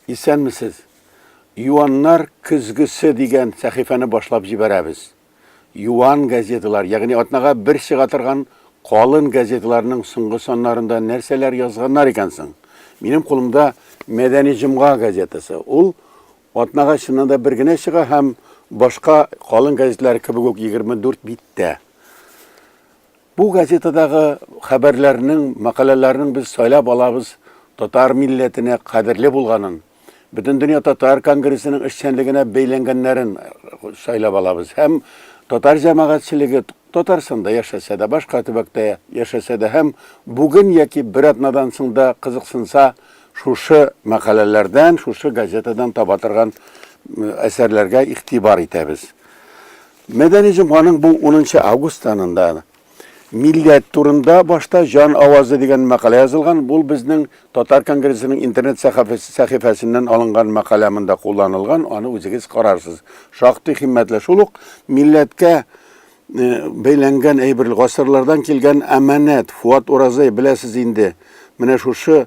Исәнмесез! Юаннар көзгесе дигән сәхифәне башлап җибәрәбез. Юан газеталар, ягъни атнага бер чыга торган калын газеталарның соңгы саннарында нәрсәләр язганнар икән соң? Минем кулымда Мәдәни җомга газетасы. Ул атнага чыннан да бер генә чыга һәм башка калын газеталар кебек үк 24 биттә. Бу газетадагы хәбәрләрнең, мәкаләләрнең без сайлап алабыз татар милләтенә кадерле булганын, Бөтендөнья татар конгрессының эшчәнлегенә бәйләнгәннәрен сайлап алабыз һәм татар җәмәгатьчелеге Татарстанда яшәсә дә, башка төбәктә яшәсә дә һәм бүген яки бер атнадан соң да кызыксынса, шушы мәкаләләрдән, шушы газетадан таба торган әсәрләргә игътибар итәбез. Мәдәни җомганың бу унынчы август санында Милләт турында башта Җан авазы дигән мәкалә язылган. Бу безнең татар конгрессының интернет сәхифәсеннән алынган мәкалә монда кулланылган, аны үзегез карарсыз. Шактый химмәтле. Шул ук милләткә бәйләнгән әйбер, гасырлардан килгән әманәт, Фуат Уразай, беләсез инде, менә шушы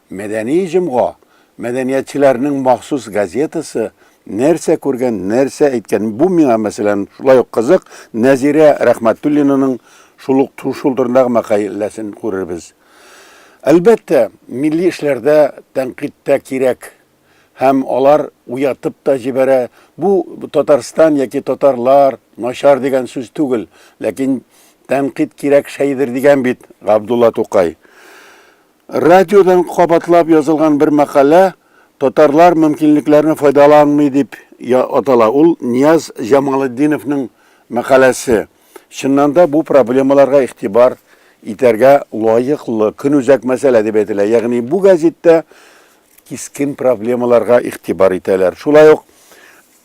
Мәдәни җомга, мәдәниятчеләрнең махсус газетасы, нәрсә күргән, нәрсә әйткән, бу миңа, мәсәлән, шулай ук кызык, Нәзирә Рәхмәтуллинаның шул ук шул турындагы мәкаләсен күрербез. Әлбәттә, милли эшләрдә тәнкыйть тә кирәк һәм алар уятып та җибәрә. Бу Татарстан яки татарлар начар дигән сүз түгел, ләкин тәнкыйть кирәк шәйдер дигән бит Габдулла Тукай. Радиодан кабатлап язылган бер мәкалә Татарлар мөмкинлекләрне файдаланмый дип атала. Ул Нияз Җамалетдиновның мәкаләсе. Чыннан да, бу проблемаларга игътибар итәргә лаеклы, көнүзәк мәсьәлә дип әйтелә. Ягъни бу гәзиттә кискен проблемаларга игътибар итәләр. Шулай ук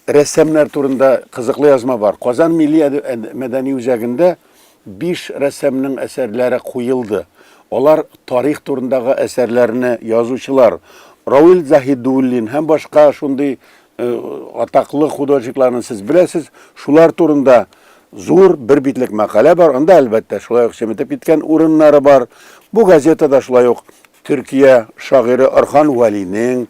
Рәссамнар турында кызыклы язма бар. Казан милли мәдәни үзәгендә биш рәссамның әсәрләре куелды. Алар тарих турындагы әсәрләрне язучылар Равил Заһидуллин һәм башка шундый атаклы художникларны сез беләсез. Шулар турында зур бер битлек мәкалә бар. Анда, әлбәттә, шулай ук чеметеп киткән урыннары бар. Бу газетада шулай ук Төркия шагыйре Орхан Вәлинең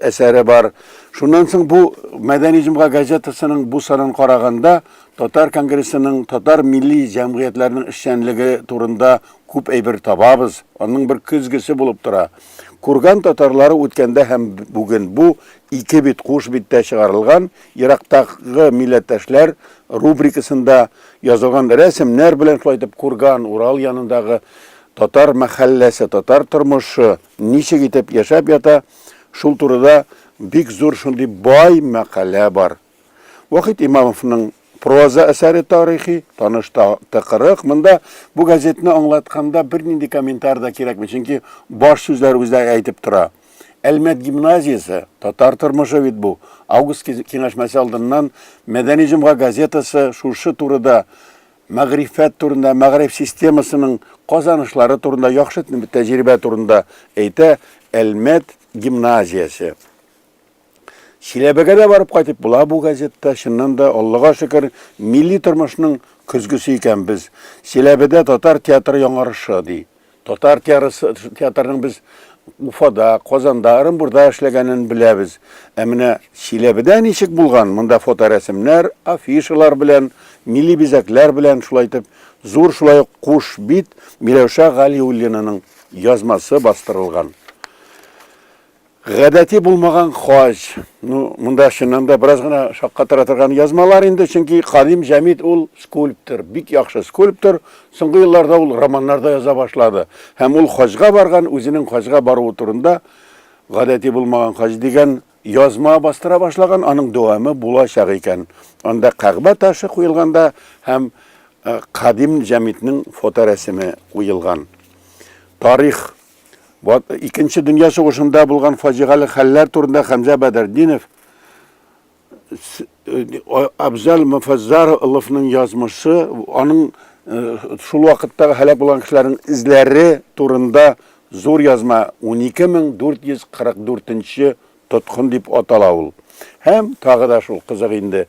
әсәре бар. Шуннан соң бу Мәдәни җомга газетасының бу санын караганда татар конгрессының татар милли җәмгыятьләренең эшчәнлеге турында күп әйбер табабыз. Аның бер көзгесе булып тора. Курган татарлары үткәндә һәм бүген бу ике бит куш биттә чыгарылган Ерактагы милләттәшләр рубрикасында язылган рәсемнәр белән шулай итеп Курган, Урал янындагы Татар мәхәлләсе, татар тормышы ничек итеп яшәп ята, шул турыда бик зур шундый бай мәкалә бар. Вахит Имамовның проза әсәре тарихи, таныш та тыкрык. Монда бу газетны аңлатканда бернинди комментар да кирәкми, чөнки баш сүзләр үзе әйтеп тора. Әлмәт гимназиясе, татар тормышы бит бу. Август киңәшмәсе алдыннан Мәдәни җомга газетасы шушы турыда мәгърифәт турында, мәгариф системасының казанышлары турында, яхшы тәҗрибә турында әйтә Әлмәт гимназиясе. Чиләбегә дә барып кайтып була бу газетта. Чыннан да, Аллага шөкер, милли тормышның көзгесе икән без. Чиләбедә татар театры яңарышы, ди. Татар театрының без Уфада, Казанда, Ырынбурда эшләгәнен беләбез. Ә менә Чиләбедә ничек булган? Монда фоторәсемнәр, афишалар белән, милли бизәкләр белән шулай итеп зур шулай ук куш бит Миләүшә Галиуллинаның язмасы бастырылган. Гадәти булмаган хаҗ. Ну, монда чыннан да бераз гына шаккатыра торган язмалар инде, чөнки Кадим Җәмит ул скульптор, бик яхшы скульптор. Соңгы елларда ул романнарда яза башлады. Һәм ул хаҗга барган, үзенең хаҗга баруы турында гадәти булмаган хаҗ дигән язма бастыра башлаган, аның дәвамы булачак икән. Анда Кәгъбә ташы куелганда һәм Кадим Җәмитнең фоторәсеме куелган. Тарих Вот икенче дөнья сугышында булган фаҗигале хәлләр турында Хәмзә Бәдердинов Абзал Муфаззаровның язмышы, аның э, шул вакытта һәлак булган кешеләрнең эзләре турында зур язма 12444 Тоткын дип атала ул. Һәм тагы да шул кызык инде.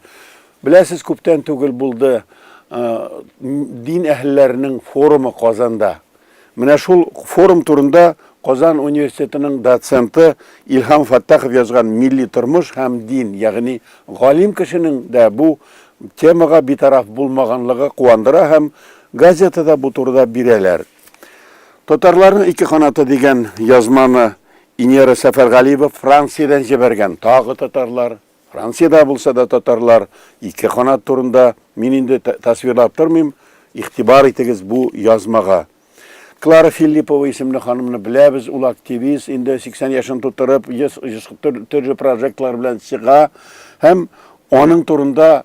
Беләсез, күптән түгел булды дин әһелләренең форумы Казанда. Менә шул форум турында Казан университетының доценты Илһам Фаттахов язган Милли тормыш һәм дин, ягъни галим кешенең дә бу темага битараф булмаганлыгы куандыра һәм газетада бу турыда бирәләр. Татарларның ике канаты дигән язманы Инера Сәфәргалиева Франциядән җибәргән тагы татарлар, Франциядә булса да татарлар, ике канат турында мин инде тасвирлап тормыйм, игътибар итегез бу язмага. Клара Филиппова исемле ханымны беләбез, ул активист, инде 80 яшен тутырып, төрле прожектлар белән чыга һәм аның турында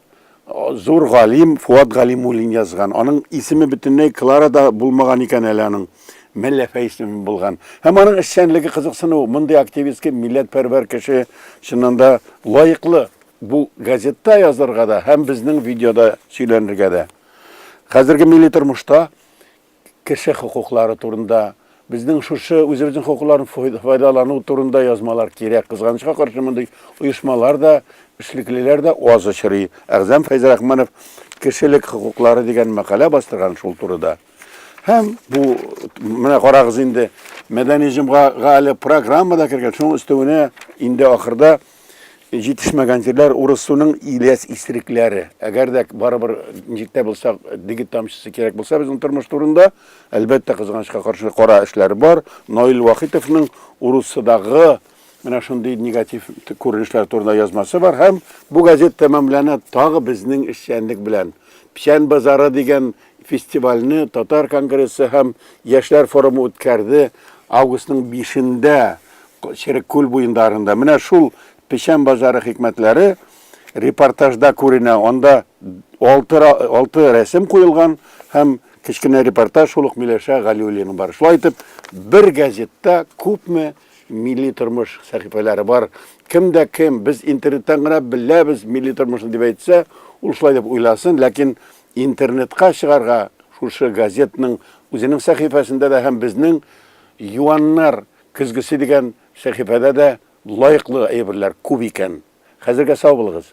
Зур галим Фуат Галимуллин язган. Аның исеме бөтенләй Клара да булмаган икән әле аның. Мәлләфә исеме булган. Һәм аның эшчәнлеге кызыксыну. Мондый активистка, милләтпәрвәр кеше чыннан да лаеклы бу газетта язарга да һәм безнең видеода сөйләнергә дә. Хәзерге милли тормышта кеше хокуклары турында, безнең шушы үзебезнең хокукларын файдалану турында язмалар кирәк. Кызганычка каршы, мондый оешмалар да, эшлеклеләр дә аз очрый. Әгъзам Фәйзрахманов Кешелек хокуклары дигән мәкалә бастырган шул турыда. Һәм бу, менә карагыз инде, мәдәни җомгага әле программа да кергән. Шуның өстәвенә инде ахырда Җитешмәгән җирләр урыс суның иләс исерекләре. Әгәр дә барыбер җиттә булсак, дигит тамчысы кирәк булса безнең тормыш турында, әлбәттә, кызганычка каршы кара эшләр бар. Наил Вахитовның Урусыдагы менә шундый негатив күренешләр турында язмасы бар һәм бу газет тәмамлана тагы безнең эшчәнлек белән. Печән базары дигән Фестивальне татар конгрессы һәм яшьләр форумы үткәрде. Августның 5-ндә Черек күл буендарында. Менә шул печән базары хикмәтләре репортажда күренә. Анда алты, алты рәсем куелган һәм кечкенә репортаж шул ук Миләшә Галиуллина бар. Шулай итеп, бер газетта күпме милли тормыш сәхифәләре бар. Кем дә кем, без интернеттан гына беләбез милли тормышны дип әйтсә, ул шулай дип уйласын, ләкин Интернетка чыгарга шушы газетның үзенең сәхифәсендә дә һәм безнең Юаннар көзгесе дигән сәхифәдә дә лаеклы әйберләр күп икән. Хәзергә сау булыгыз!